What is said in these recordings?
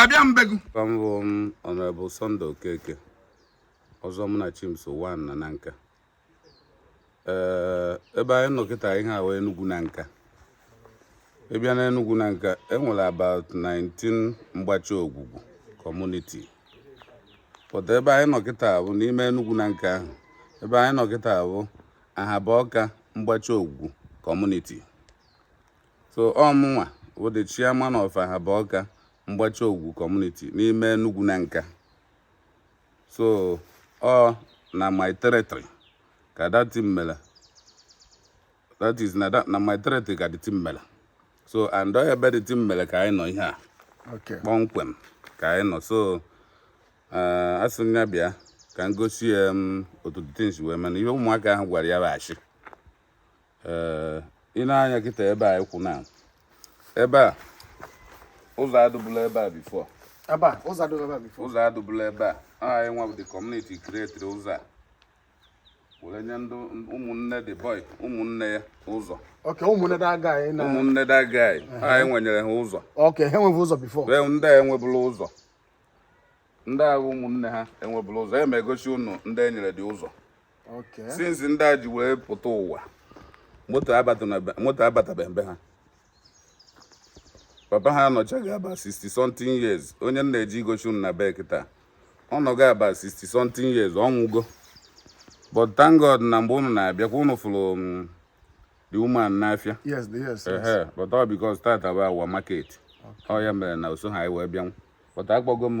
abịa mbegụ mbụ m Honorable Sunday Okeke Ọzọ Munachimso one na Nanka ee ebe anyị nọ kịta ihe a wụ Enugwu Nanka ị bịa na Enugwu Nanka enwere about 19 mgbachi ogwugwu community but ebe anyị nọ kịta bụ n'ime Enugwu Nanka ahụ ebe anyị nọ kịta bụ Ahaba Ọka mgbachi ogwugwu community so ọ mụnwa bụ the chairman of Ahaba Ọka mgbachi ogwu community n'ime Enugwu Nanka so ọ na my territory ka that thing mere that is na that na my territory ka the thing mere so and ọ ebe the thing mere ka anyị nọ ihe a Okay. kpọmkwem ka anyị nọ so eh, a sị m ya bịa ka m gosi ya otu the thing shi wee mee na ihe ụmụaka ahụ gwara ya bụ ashị ee eh, i nee anya kịta ebe a ị kwụ na ebe a ụzọ adụbụla ebe a before ụzọ adụbụla ebe a anyị nwa bụ the community createri ụzọ a were nye ndị ụmụnne the boy ụmụnne ya ụzọ ụmụnne that guy anyị wenyere ha ụzọ ndị a enwebụla ụzọ ndị a bụ ụmụnne ha enwebụla ụzọ e ma egosi ụnụ ndị enyere the ụzọ since ndị a ji wee pụta ụwa moto abatabeghị be ha papa ha anọchago about 60 something years onye m na-eje igoshi unu na be kịta ọ nọgo about 60 something years ọ nwụgo but thank God na mgbe unu na-abịa kwa unu fụrụ mm, the woman n'afịa yes yes yes but all because tata bụ our market ọ ya mere na o soho anyị wee bịanwụ but akpọgo m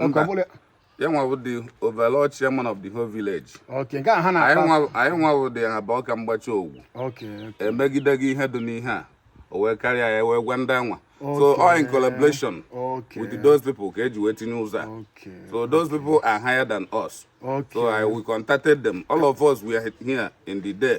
Mba. ọbụla ya nwa bụ the overall chairman of the whole village okay nke a ha anyị na-akpa nwa anyị nwa bụ the Ahaba Ọka mgbachi ogwu okay emegide gị ihe dị n'ihe a o wee karịa ya wee gwa ndị anwa so Okay. all in collaboration okay with those people ka eji wee tinye ụzọ a okay so those people are higher than us okay so I we contacted them all of us were here in the day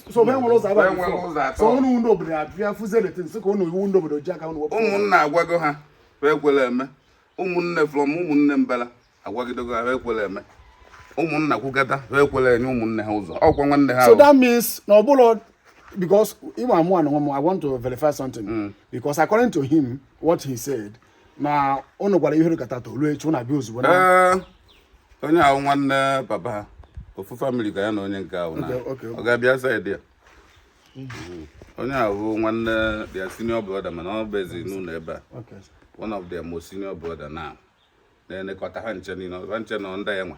so be nwere ụzọ aba Be nwere ụzọ atọ. so ụnụ ndị obodo abịa fụzie the thing sị ka ụnụ wụ ndị obodo ji aka ụnụ wepụ ụmụnna agwago ha ha ekwere eme ụmụnne from ụmụnne mbala agwagidego ha ha ekwere eme ụmụnna kwugata ha ekwere enye ụmụnne ha ụzọ ọkwa nwanne ha so ahụ. that means na ọbụla because ịma mụ anụ m i want to verify something because according to him what he said na ụnụ gwara ihe rikata to ruo echi ụnụ abịa ozugbo na Ee, onye ahụ nwanne papa ha ofu family ka ya na onye nke ahụ na Okay, okay. ọ ga-abịa side ya onye ahụ bụ nwanne their senior brother mana o bizi n'ụlọ ebe a Okay. one of their most senior brother now na-elekọta ha ncha niile ha ncha nọ ndị ya nwa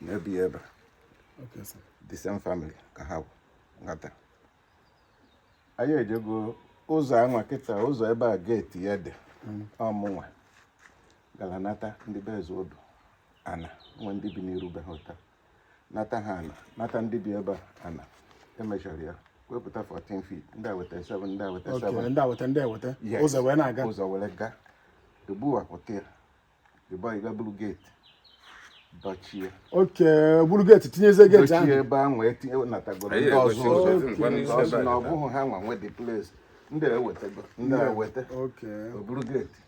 na-ebi ebe Okay, sir. the same family ka ha bụ nghata anyị ejego ụzọ anwa kịta ụzọ ebe a geeti ya dị ọ mụnwa gara nata ndị be eze odu ana nwe ndị bi n'iru be ha ụta nata ha ana nata ndị bi ebe a ana emechara ya wepụta 14 feet ndị a weta 7 ndị a weta Okay, 7 ndị a weta ndị eweta Yes. ụzọ wee na-aga ụzọ were gaa egbuwapụta ya boy gaa buru geeti dochie okay buru geeti tinyeze geeti ahụ dochie ebe ahụ etinye natagoro ndị ọzọ ụzọ na ọ bụghị ha nwa nwe the place ndị ewetago ndị eweta o buru geeti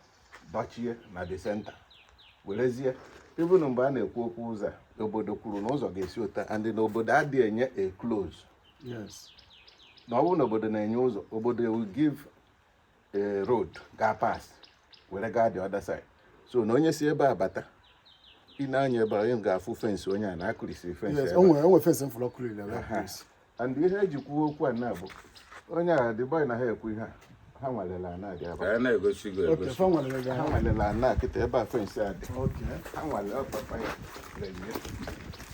dochie na the center werezie even mgbe a na-ekwu okwu ụzọ a obodo kwuru na ụzọ ga-esi otu a and na obodo adịghị enye a close na ọ bụrụ na obodo na-enye ụzọ obodo will give a road gaa pass were gaa the other side so na onye si ebe a bata ị na-anya ebe onye ga-afụ fensị onye a na-akụrisi fensị and ihe e ji kwuo okwu a na-abụ onye a the boy na ha ekwu ihe a ha nwalela ana dị ebe ha nwalela ana kịta ebe a fensị a dị ha nwale ọ papa ya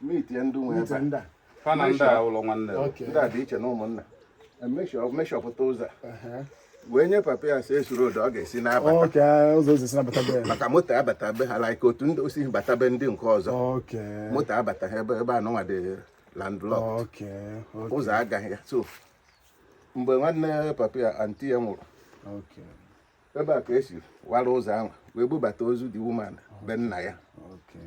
mitie ndị nwe ebe ndị a fa na ndị a abụrọ nwanne o. Okay. ndị a dị iche n'ụmụnna Emeshọ- meshọpụta ụzọ a. wee nye papa ya si esuru odo ọ ga-esi na-abata okay ụzọ ụzọ si na-abata be maka moto abata be ha like otu ndị o si bata be ndị nke ọzọ okay moto abata ha ebe ebe anụnwa dị landlocked okay ụzọ agaghị ya so mgbe nwanne papa ya aunty ya nwụrụ okay ebe a ka e si wara ụzọ ahụ wee bubata ozu the woman be nna ya okay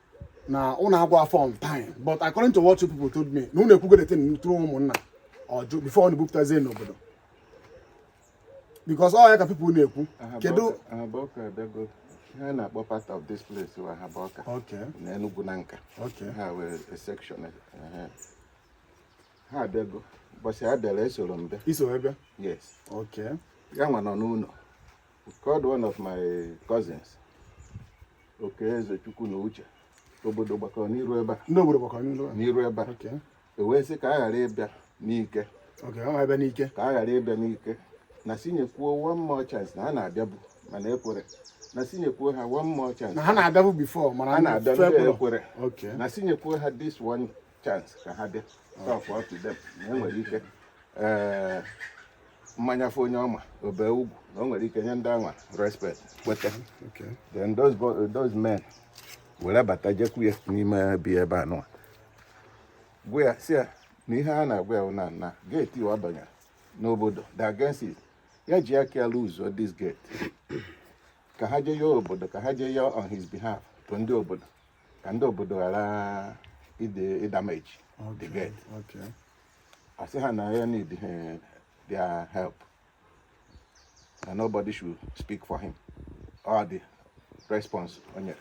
na ụnụ agwa fa on time but according to what you people told me na ụnụ ekwugo the thing through ụmụnna ọ jụ before ụnụ ebupụtazie n'obodo because ọ ya ka people na-ekwu kedu ihe a na-akpọ part of this place wa ha bụ ọka na Enugu Nanka ha were section ha abịago ụbọchị ha bịara esoro m bịa yes ya nwa nọ n'ụlọ called one of my cousins Okeezechukwu na Uche obodo gbakọrọ n'iru ebe a ndị obodo gbakọrọ n'iru n'iru ebe a okay e wee sị ka a ghara ịbịa n'ike okay ọ ebe n'ike ka a ghara ịbịa n'ike na sị nyekwuo one more chance na ha na-abịabu mana ekwerọ na sị nyekwuo ha one more chance na ha na-abịabu before mana ha na-abịa ndị ekwerọ okay na sị nyekwuo ha this one chance ka ha bịa talk up to them na e nwere ike ee ma nya fụ onye ọ ma o bee ugwu na o nwere ike nye ndị anwa respect kweta Okay. then those, bo- those men were bata jekwu ya n'ime be ebe anụnwa gwa ya sị ya na ihe a na-agwa ya bụ na na geeti ị wabanyere n'obodo dị against it ya ji aka ya lụzuo this gate ka ha jee ya obodo ka ha jee ya on his behalf to ndị obodo ka ndị obodo ghara ịdamage the gate ọ sị ha na ya need eh, their help na nobody should speak for him all the response o nyere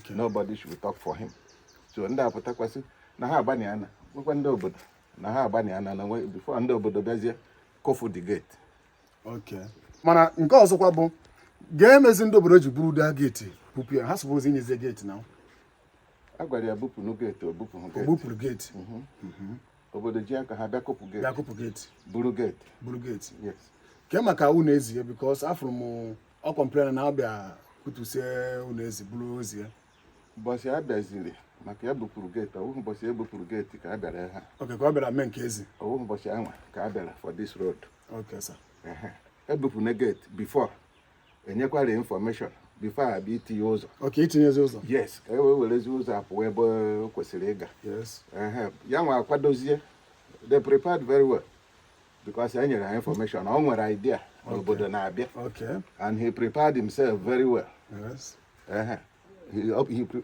nobody should talk for him so ndị a pụtakwa sị na ha agbanye ana gwakwa ndị obodo na ha agbanye ana na before ndị obodo bịazie kụfụ the gate mana nke ọzọkwa bụ ga-emezi ndị obodo ji buru that gate bupụ ya ha suppose inyezie gate na a gwara ya bupụ gate o bupụrụ gate mhm. Mhm. obodo ji aka ha bịa kụpụ gate bịa kụpụ gate buru gate buru gate ke maka ọnụ ezi ya because afụrụ m ọ complain na a bịa kụtusie ọnụ ezi buru ozi ya ụbọchị a bịaziri maka ya bupụrụ gate ọ wụhụ ụbọchị e bupụrụ gate ka a bịara ha okay ka ọ bịara mee nke ezi ọ wụhụ ụbọchị anwa ka a bịara for this road Okay, sir. ebupụna gate before enyekwara information before a bịa itinye ụzọ Okay, itinyezi ụzọ. yes ka e wee werezi ụzọ a pụọ ebe o kwesịrị ịga Yes. Ehe, ya nwa akwadozie they prepared very well because e nyere ha information o nwere idea na obodo na-abịa Okay. and he prepared himself very well Yes. Ehe. He, up- he, pre-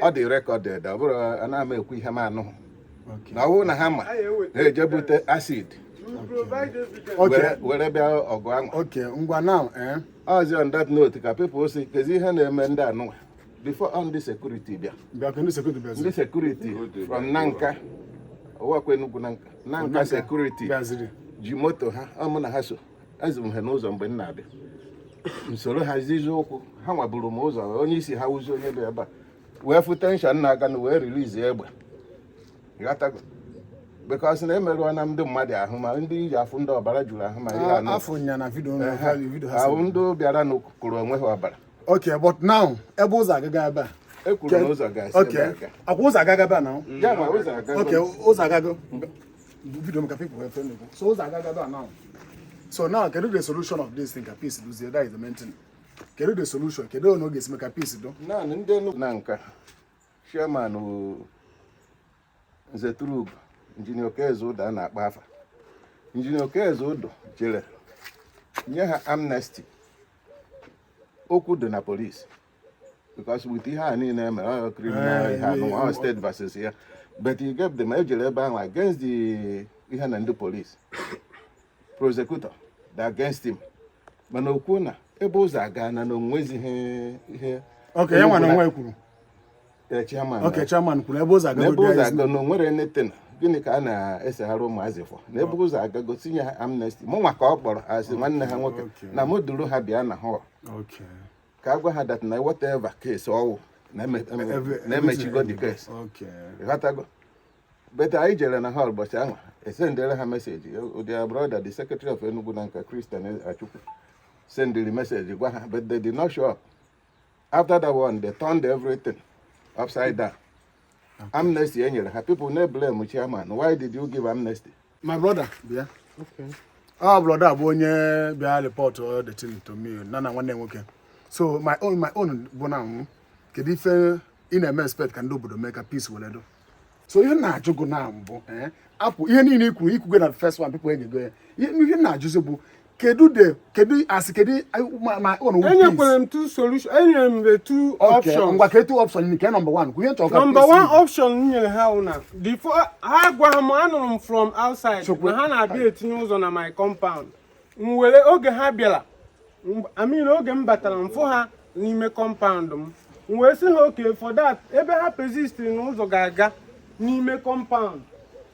ọ dị recorded ọ bụrọ ana m ekwu ihe m anụhụ na ọ bụrụ na ha ma na-eje bute acid were bịa ọgụ ahụ okay ngwa now eh ọzi on that note ka people si kezi ihe na-eme ndị anụwa before on ndị security bịa ndị security from Nanka ọ wụkwa Enugwu Nanka Nanka security ji moto ha ọ mụ na ha so ezu m ha n'ụzọ mgbe m na-abịa m soro ha zizi ụkwụ ha nwa buru m ụzọ onye isi ha wuzi onye bịa ebe a wee fụ tension na-aga na wee release egbe ghọtago because na emerụọna ndị mmadụ ahụ ma ndị ị je afụ ndị ọbara juru ahụ ma ihe anụ afụ ya na video nọ, ha yi video ha ahụ si. ndị bịara na kụrụ onwe ha ọbara ok but now ebe ụzọ agaga ebe a ekwuru na ụzọ ga-esi ok ebe a ga. ọkwa ụzọ agaga ebe a now ya ma ụzọ agago ok ụzọ agago video m ka people wee fụ ihe a na-ekwu so ụzọ agaga ebe a now so now kedu the solution of this thing ka peace dụzie that is the main thing kedu the solution kedu otu a ga-esi mee ka peace dụ naanị ndị Enugwu Nanka chairman bụ nze turub Engineer Okeze Udo a na-akpa afa Engineer Okeze Udo jere nye ha amnesty okwu dị na police because with ihe a niile mere ọ criminal ihe anụ ọ state versus ya but you get them ejere ebe ahụ against the ihe na ndị police prosecutor the against him mana o kwu na ebe ụzọ agana na o nwezighị ihe okay ya nwa na onwe kwuru eh, chairman okay eh. chairman kwuru ebe ụzọ aga ebe ụzọ agana o nwere anything gịnị ka a na-eseghara ụmụazị for na ebe ụzọ agago sị nye ha amnesty mụ nwa ka ọ kpọrọ as nwanne ha nwoke na mụ duru ha bịa na hall ka a gwa ha that na whatever case ọwụ na emechigo the case ịghọtago but anyị jere na hall ụbọchị ahụ esendere ha message their brother the secretary of Enugu Nanka Christian Achukwu sendiri message gwa ha but they did not show up after that one they turned everything upside down amnesty e nyere ha people na-eblame chairman why did you give amnesty my brother bịa ọ brother bụ onye bịa report all the thing to me na na nwanne nwoke so my own my own bụ na kedu ife ị na-eme expect ka ndị obodo mee ka peace were do so ihe na-ajụ gụ na mbụ eh, apụ ihe niile ikwuru ikwugo na first one people egego ya ihe na-ajụzi bụ kedu the kedu asị kedu my own enyekwere m two solution enyere m the two options ngwa kedu option nke number one kwunye nchọ ka number one option m nyere ha na before ha agwaha m anụrụ m from outside na ha na-abịa etinye ụzọ na my compound m were oge ha bịara I mean oge m batara m fụ ha n'ime compound m m wee sị ha okay for that ebe ha persist na ụzọ ga-aga n'ime compound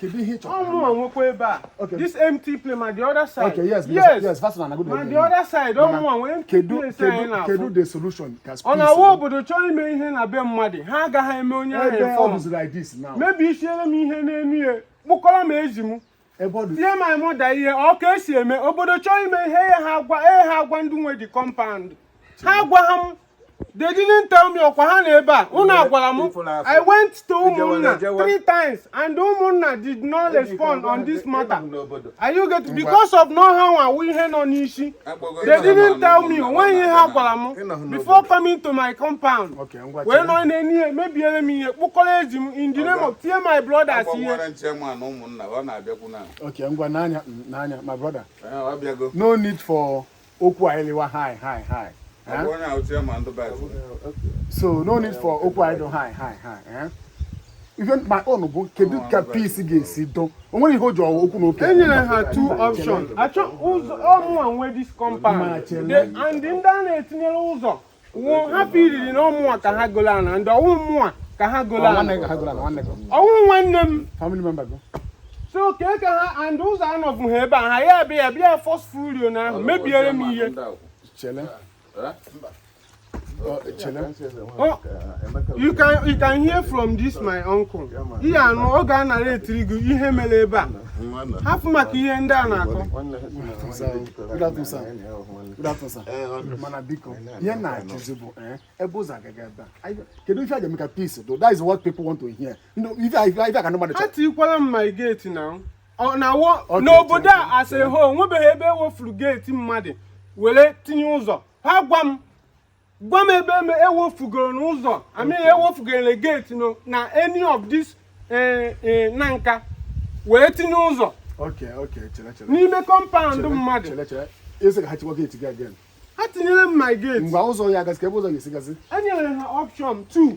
kedu ihe chọrọ ọ mụa nwekwa ebe a okay this empty place ma the other side okay yes yes yes fast na good ma the other side ọ mụa nwe empty place anyị na-afụ kedu the solution ka space ọ na-awụ obodo chọọ ime ihe na be mmadụ ha agaghị eme onye ahụ ebe ọ bụzi like this now mebisiere m ihe n'elu ya kpụkọrọ m ezi m tie my mother ihe ọ ka esi eme obodo chọọ ime ihe ya ha agwa ee ha agwa ndị nwe the compound ha agwaha m They didn't tell me ọkwa ha nọ ebe a. Unu agwara m. I went to ụmụnna three times and ụmụnna did not respond on this matter. Are you getting because of na ha nwa wụ ihe nọ n'isi. They didn't tell me onweghị ihe ha gwara m before coming to my compound. Wee nọ n'enu ya mebiere m ihe kpụkọrọ ezi m in the name of tie my brothers ihe. Okay, ngwa n'anya n'anya my brother. Eh, no need for okwu anyị liwa high high high so no need for okwu anyị dị high high high even my own bụ kedu ka peace ga-esi do onwere ihe o ji ọwa okwu na oke enyere ha two options achọ ụzọ ọmụwa nwe this compound and ndị a na-etinyere ụzọ wụ ha feeliri na ọmụwa ka ha golo ana ndị ọwụ mụwa ka ha golo ana ọwụ nwanne m so ka eke ha and ụzọ anọbụha ebe a ha ya bịa ya bịa forcefully na ahụ mebiere m ihe Oh, oh, you can you can hear from this my uncle here now ọ ga-anarratiri gị ihe mere ebe a hapụ maka ihe ndị a na-akọ mana biko ihe na-ajụzi bụ eh, ebe ụzọ agaghị ebe a kedu ife a ga-eme ka peace do that is what people want to hear ife a ka ndị mmadụ chọrọ atikwala m my gate na n'obodo a as a whole onwebeghị ebe ewefuru geeti mmadụ were tinye ụzọ ha gwa m gwa m ebe eme ewefugoro n'ụzọ I mean ewefugoro gate no na any of this eh, eh, Nanka wee tinye ụzọ Okay, okay, chere chere. n'ime kọmpaụnd Chere, mmadụ Chere chere. Asị ka ha chịkwa gate gị again. ha tinyere m my gate Mgbe ụzọ ya agazi ka ebe ụzọ ga-esi gazi. enyere ha option 2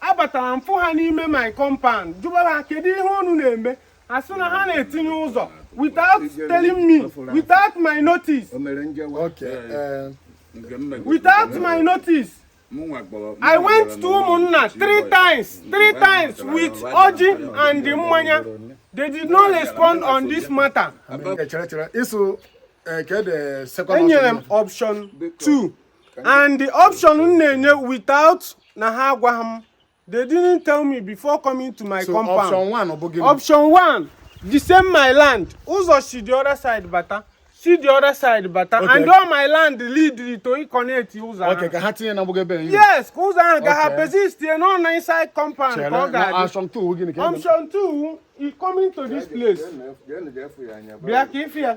abatara m fụ ha n'ime my compound jụba ha kedu ihe unu na-eme a sị na ha na-etinye ụzọ without telling me without my notice eh, without my notice I went to ụmụnna three times three times with ọjị and mmanya they did not respond on this matter. Eh, enyere m option 2 and the option m na-enye without na ha agwaghị m they didn't tell me before coming to my so compound option one ọ bụ gịnị option one the same my land ụzọ si the other side bata si the other side bata Okay. and all my land lead to connect ụzọ ahụ. okay ka ha tinye na mgbago ebe anyị yes ka ụzọ ahụ ga ha Okay. persist tie nọ na inside compound ka ọ ga-adị option two gịnị ka ị na- option two is coming to this place bịa ka ife ya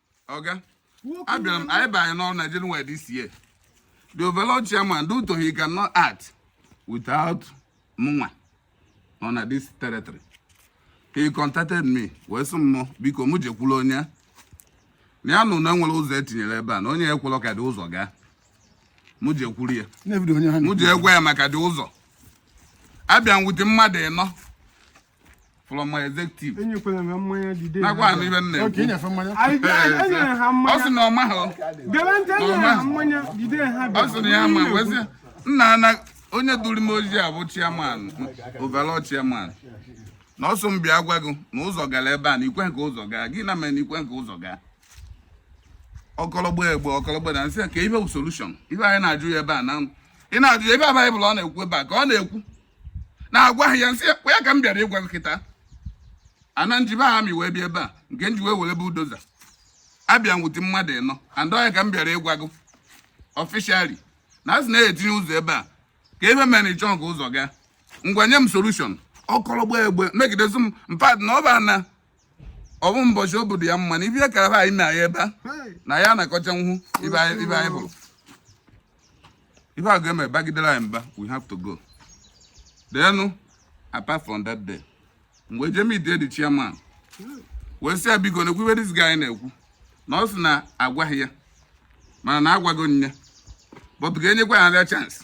ọga abịara m anyị banye n'ọrụ na January this year the overall chairman due to he cannot act without mụnwa nọ na this territory he contacted me wee sị m biko mụ jekwulu onye a na ya nụ na enwere ụzọ etinyere ebe a na onye a ekwelọ ka the ụzọ gaa mụ jekwuru ya mụ je gwa ya maka the ụzọ abịa m wete mmadụ ịnọ from my executive. Enyekwara ha mmanya the day. Nakwa anụ ife m na-ekwu. Okay, nyefe mmanya. Anyị enyere ha mmanya. Ọ sị na ọ maghị. Gere ntị enyere ha mmanya the day ha bịa. Ọ sị na ya ma wee sị nna a na onye duru m ozi a bụ chairman overall chairman na ọ sị m bịa gwa gị na ụzọ gara ebe a na i kweghị ka ụzọ gaa gịnị mere na i kweghị ka ụzọ gaa ọkọlọgbo egbe ọkọlọgbo na m sị kee ife bụ solution ife anyị na-ajụ ya ebe a na ị na-ajụ ya ebe a Baịbụl ọ na-ekwu ebe a ka ọ na-ekwu na-agwa ha ya m sị ya ọ ya ka m bịara ịgwa gị kịta ana m jibe aha m wee bịa ebe a nke m ji wee were bulldozer abịa m wete mmadụ ịnọ and ọya ka m bịara ịgwa gị officially na a sị na-etinye ụzọ ebe a kee ife mere ị chọghị ka ụzọ gaa ngwa nye m solution ọkọlọgba egbe megidezi m in fact na ọ bụ na ọ bụ mbọchị obodo ya mma na ibe ya kara anyị mee ya ebe a na ya na-akọcha nhu ibe anyị ibe anyị bụrụ ibe a ga-eme bagidere anyị mba we have to go then apart from that day mgbe je meetie the chairman wee sị ya biko na-ekwu ibe this guy na-ekwu na ọ sị na agwaghị ya mana na agwago ya but ga-enyekwa ya another chance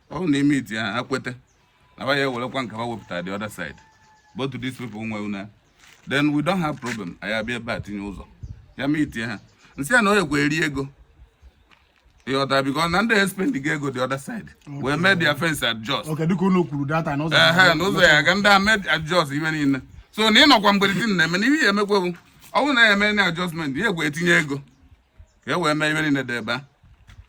ọ bụrụ na e meetie ha ha kweta na ba ya ewerekwa nke ha wepụtara the other side both these people nwe ụnọ then we don't have problem anyị abịa ebe a tinye ụzọ ya meetie ha nsị ya na onye kweri ego ịghọta because na ndị espendigo ego the other side wee mee their fence adjust Okay, dịka unu kwuru that day na ụzọ ehe na ụzọ ya aga ndị a mee adjust ihe niile so na ịnọkwa mgbede di na-eme na ihe ya emekwewu ọ bụrụ na ya eme na adjustment ya ekwe etinye ego ka e wee mee ihe niile dị ebe a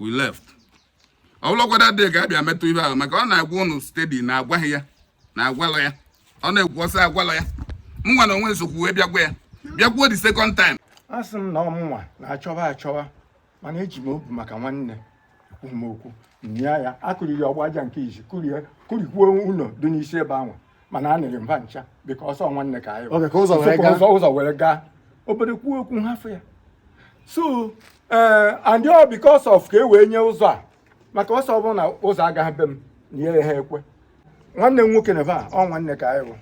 we left ọ bụlụkwa that day ka a bịa metụ ihe ahụ maka ọ na-agwa unu steady na agwaghị ya na agwalụ ya ọ na-ekwu ọ sị agwalụ ya m nwa na onwe m sokwu wee bịagwa ya bịakwuo the second time a sị m na ọ mụnwa na-achọwa achọwa mana eji m obi maka nwanne ekwughị m okwu nya ya akụriri ọgba aja nke izi kụrie kụrikwuo ụlọ dị n'isi ebe ahụ mana a nịrị mba ncha because ọ nwanne ka anyị Okay, ka ụzọ were Sokwa gaa. ụzọ ụzọ were gaa obodo kwuo okwu nhafụ ya so ee and ọ because of ka e wee nye ụzọ a maka ọ sị ọ bụrụ na ụzọ agaghị be m na ya ha ekwe nwanne m nwoke na va ọ nwanne ka anyị bụ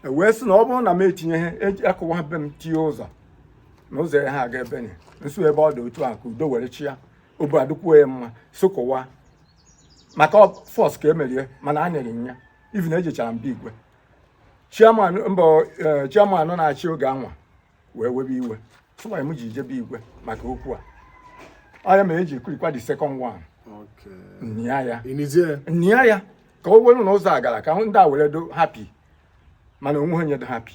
e wee sị na ọ bụrụ na m etinyeghị eji- akụwa be m tinye ụzọ na ụzọ ya ha aga ebe nye nso ebe ọ dị otu a ka udo were chịa obi adịkwuo ya mma so kọwa maka force ka e mere ya mana a nyere ya even ejechara m be igwe chairman mbọ eh, chairman na-achị oge anwa wee webe iwe sị why m ji jee be igwe maka okwu a ọ ya me eji kụrikwa the second one nia ya nia ya ka o welu na ụzọ a gara ka ndị a were dị happy mana onweghị onye dị happy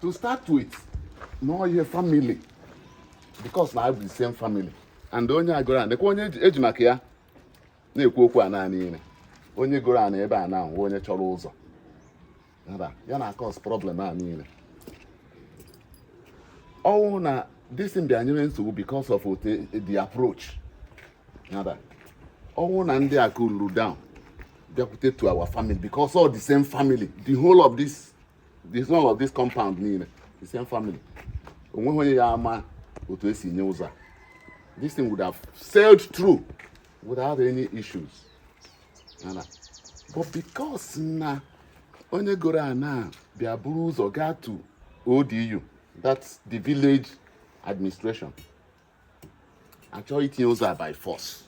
to start with na ọ ihe family because na bụ the same family and onye a goro ana kwa onye eji maka ya na-ekwu okwu a naanị ire onye goro ana ebe a na onye chọrọ ụzọ ya na cause problem a niile ọ wụ na this thing bịa nyere nsogbu because of the approach nada ọ wụ na ndị a cool down bịakwute to our family because all the same family the whole of this this one of this compound niile the same family onweghị onye ya ama otu esi nye ụzọ a this thing would have sailed through without any issues Nana. but because na onye goro ana bịa buru ụzọ gaa to ODU that's the village administration achọrọ itinye ụzọ a by force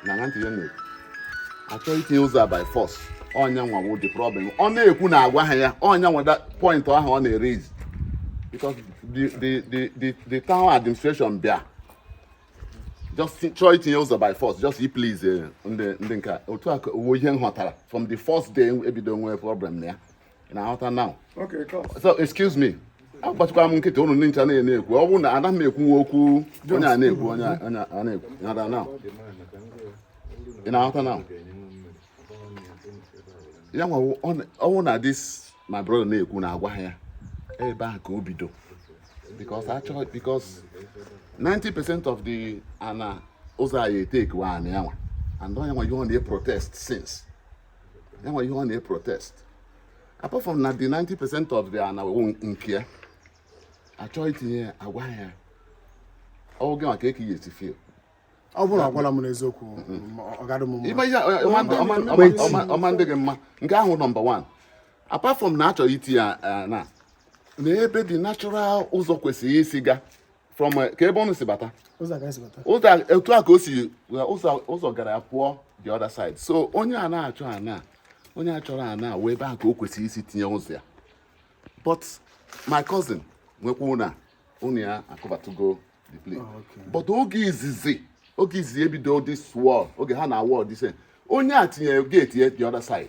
na ana nke ya na achọrọ itinye ụzọ a by force ọ nya nwa bụ the problem ọ na-ekwu na agwaha ya ọ nya nwa wụ the point ahụ ọ na-eraise because the the the the the town administration bịa just chọọ itinye ụzọ by force just i please eh, ndị ndị nke otu a ka ọ wụ ihe m ghọtara from the first day ebido nwee problem na ya ị na-aghọta now so excuse me agbachikwa m nkịtị ụnụ ndị ncha na-ekwu ọ bụrụ na ana m ekwu okwu onye a na-ekwu onye a na-ekwu nada now ị na-aghọta now ya nwa ọ wụ na this my brother na-ekwu na agwaghị ya ebe a ka o bido because actually because 90 percent of the ana ụzọ a ya-etake wụ ana ya nwa and ọ ya nwa wụ ihe ọ na-eprotest since ya nwa ihe ọ na-eprotest apart from na the 90 percent of the ana wụ nke ya achọrọ itinye ya agwaghị ya ọ wụ gị nwa kee ka ị ya-esi feel ọ bụrụ agwala m n'eziokwu ọ ga-adị m mma ọ ma-adị gị mma nke ahụ nọmba 1 apart from na achọghị itinye ya na na ebe the natural ụzọ kwesịrị isi ga from eh, ka ebe ụnụ si bata ụzọ ka anyị si bata ụzọ a- etu a ka o si well, ụzọ ụzọ gara ya pụọ the other side so onye a na-achọ ana onye a chọrọ ana wee ebe a ka o kwesịrị isi tinye ụzọ ya but my cousin wee kwuo na ụnọ ya akụbatugo the place Ah, okay. but oge izizi oge izizi ebido this wall oge ha na-awall this end, onye a tinyere gate ya the other side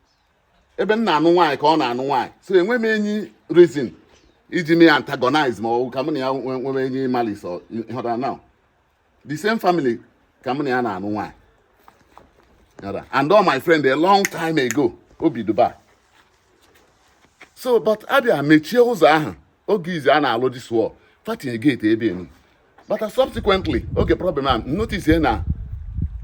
ebe m na-anụ nwaanyị ka ọ na-anụ nwaanyị so enwe m any reason iji me antagonize him or ka m na ya nwere any malice ịghọtara now the same family ka m na ya na-anụ nwaanyị and ọ my friend a long time ago o bi Dubai so but abịa mechie ụzọ ahụ oge izi a na-alụ this wall fa tinye gate ebe enu but subsequently oge problem a notice na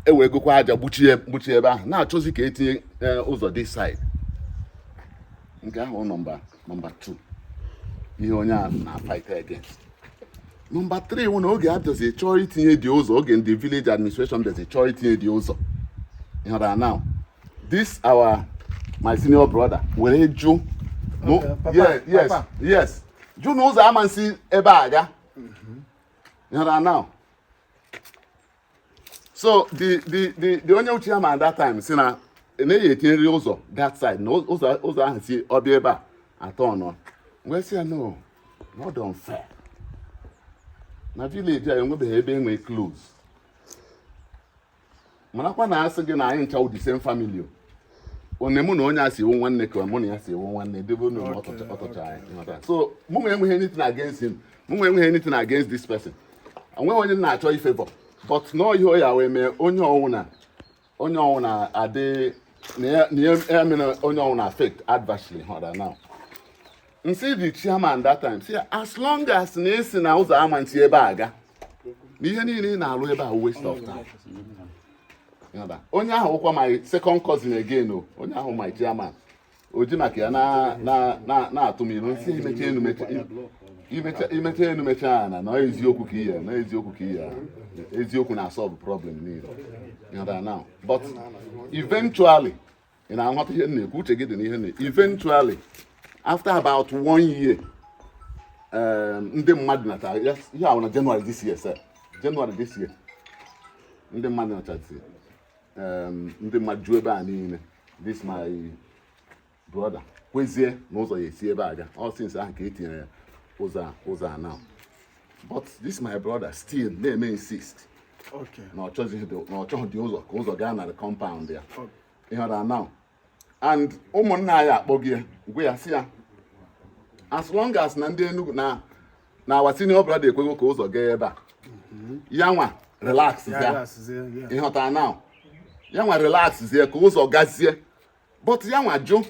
ewegokwa aja gbuchie gbuchie ebe ahụ na-achọzi ka etinye e, ụzọ this side nke ahụ nọmba nọmba 2 ihe onye a na-fight against nọmba 3 wụ na oge a bịazi chọọ itinye the ụzọ oge ndị village administration bịazi chọọ itinye the ụzọ ịhụra now this our my senior brother were jụ yes yes yes jụ na ụzọ ama esi ebe a ga now so the the the the onye wụ chairman that time sị na a ya-etinyeriri ụzọ that side na ụzọ ụzọ ahụ si ọ bịa ebe a atọ ọnọ wee sị ya no na ọ dịrọ fair na village a enwebeghị ebe enwe close marakwa na asị gị na anyị ncha the same family o onye mụ na onye a si awụ nwanne ka mụ na ya si awụ nwanne debe unu ọtọcha anyị so mụ nwa enweghị anything against him mụ nwa enweghị anything against this person onweghị onye na-achọ ịfavour but nọọ ihe oya wee mee onye ọwụna onye ọwụna adị na ya mere onye ọwụna affect adversely ịghọta now m sị the chairman that time sị as long as na esi na ụzọ ama nti ebe a ga na ihe niile ị na-alụ ebe a waste of time onye ahụ wụkwa my second cousin again o onye ahụ my chairman o ji maka ya na-atụ m ilu m sị imecha enu imecha enu mecha ana na eziokwu ka ihe na eziokwu ka ihe eziokwu na-asolve problem niile but eventually ị na-aghọta ihe m na-ekwu uche gị dị n'ihe na eventually after about one year um, ndị mmadụ nacha ihe ahụ na January this year sir January this year ndị mmadụ nachazi um, ndị mmadụ ju ebe a niile this my brother kwezie na ụzọ ya esi ebe a ga ọ since ahụ ka e tinyere ya ụzọ a ụzọ a now but this my brother still na-eme insist na ọ chọghị the ụzọ ka ụzọ gaa na the compound ya ịghọta now and ụmụnna anyị akpọgo ya gwa ya sị ya as long as na ndị Enugu na na our senior brother ekwego ka ụzọ gaa ebe a mm-hmm. ya nwa relax ya ịghọta now ya nwa relax zie ka ụzọ gazie but ya nwa jụ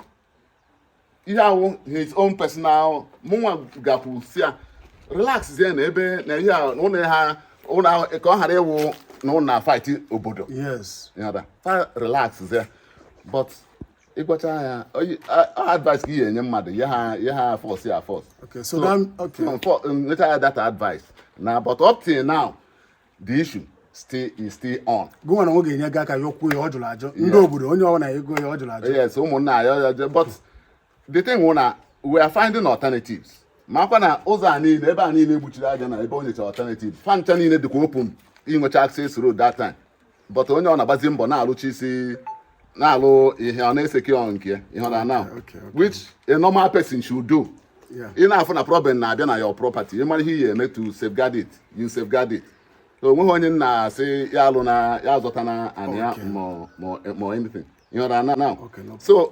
ihe a wụ his own personal mụnwa gakwu sị ya relax zie na ebe na ihe a ụlọ ha ụlọ ahụ ka ọ ghara ịwụ na unu na fight obodo yes yada fa relax zie but ịgwacha ya oyi- a- a- advice ka ị ga-enye mmadụ ya ha ya ha force ya force okay so that okay nleta ya that advice now but up till now the issue still is still on. gụnwa na nwoke enye gị aka yọkwuo ya ọ jụla ajụ ndị obodo onye ọwụna ego ya ọ jụla ajụ yes ụmụnna ya ya je but the thing wụ na we are finding alternatives makwa na ụzọ a niile ebe a niile egbuchiri aja na ebe o nyechara alternatives fancha niile dịkwa open inwecha access road that time but onye ọ na-agbazi mbọ na-alụchi isi na-alụ ihe ọ na-esecure nke ya ịghọta now which a normal person should do ị na-afụ na problem na-abịa na your property ị mara ihe ị ya-eme to safeguard it you safeguard it o nweghị onye na-asị ya alụna ya azọtana anị ya ma anything ịghọta now so